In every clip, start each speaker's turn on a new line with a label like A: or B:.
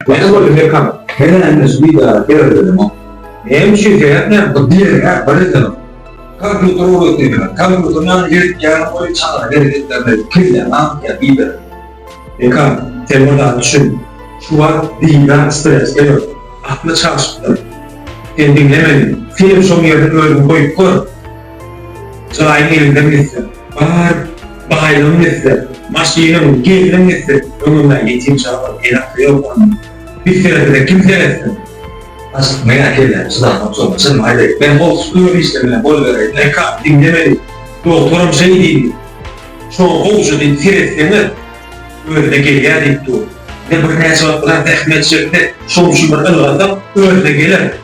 A: Näme boldy Mekan? Hene heniz bidara
B: seredelemok. Näme üçin
A: seretmän? Bu diýen-ä bir
B: ýyl. Kompýuter ugrasyn ýaly, kompýuteriň ýanyna gelip ýaran goýy çaganyň hereketlerine kelläň agtyýar bidar. Mekan,
A: sen bir zat düşün. Şu wagt bidar stresde ýok. Akly çalşypdyr. Sen diňlemeli. Senem şoň ýerine özüňi goýup gör. Jaýyň elinden gitse, bar baýlygyň gitse, maşynyň, gelniň gitse, öňünde ýetim çaga, el-akyr ýok onuň. Biseresine kim seretsin? Aşyk meger
B: gelne çydamok soňra çynymy aýdaýyn, men howsuz öýe işlemine
A: gol bereýin, erkak diňlemeli, dogtaram şeý diýdi. Şoňa gowja diýip seretseňiz, özüne gelýär diýip dur. Bize birnäçe wagt biraz zähmet çekse, şoň üçin bir ylgasak, özüne geler.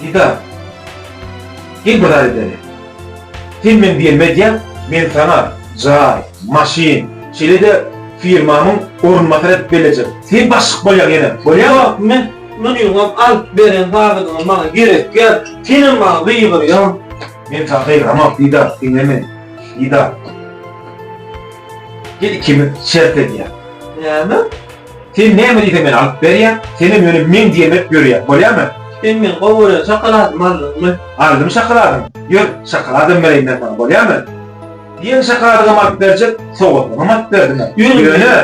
C: Didar,
A: gel bir zat edeliň. Sen meň diýenimi edýäň, men saňa jaý, maşyn, şeýle-de firmamyň orunbasary edip bellejek. Sen başlyk bolýaň ýene. Bolýar wagtym men.
C: Munuňam alyp beren zadyňam maňa gerekýär. Senem maňa gygyrýaň. Men saňa gygyramok,
A: Didar, diňle meni. Didar, gel ikimiz şert edýäs. Näme?
C: Sen
A: näme diýseň men alyp berýän, senem ýöne meň diýen berip ýörýäň, bolýamy? Sen meň gowy gören
C: şokoladymy aldyňmy? Aldym şokoladyňy.
A: Ýör, şokoladam bereýin men saňa, bolýamy? Diýen şokoladyňam alyp berjek, sowgatyňam alyp berdiňä. Ýöne,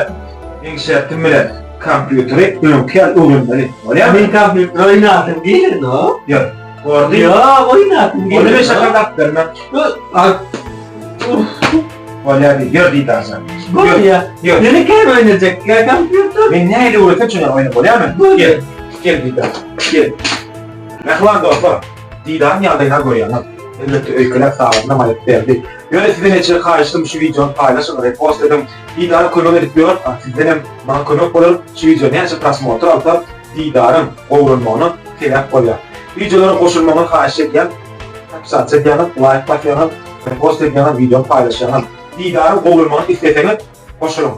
A: meň şertim bilen, kompýuteri öňki ýaly öwrenmeli, bolýamy? Men kompýuter oýnasym
C: geleni-o. Ýör, gordy.
A: Ýok, oýnasym
C: geleni. Onda men şokolad alyp
A: bermen. Ýör, alyp. Bolýar diýdi. Ýör diýdi Daşan. Bolýar. Ýör.
C: Ýöne käm
A: oýnajak.
C: Ýa kompýuter. Men nähili öwretsem şoňa
A: oýnap bolýarmy? Bolýar. Gel
C: diýdi
A: Daşan. Gel. Mähriban dostlar, Didaryň ýagdaýyna görýäňiz. Elbetde öýkeläp sagatynam aýryp berdi. Ýöne sizden eje haýyştym şu wideony paýlaşyň, repost ediň. Didara kömek edip ýör, a sizdenem maňa kömek bolar. Şu wideo näçe prosmotr alsa Didaryň gowranmagyna sebäp bolýar. Wideolara goşulmagyňy haýyş edýän. Podpisat çekýäňiz, laýk basýaňyz, repost edýäňiz, wideony paýlaşýaňyz. Didarym gowulmagyny isleseňiz, goşulyň!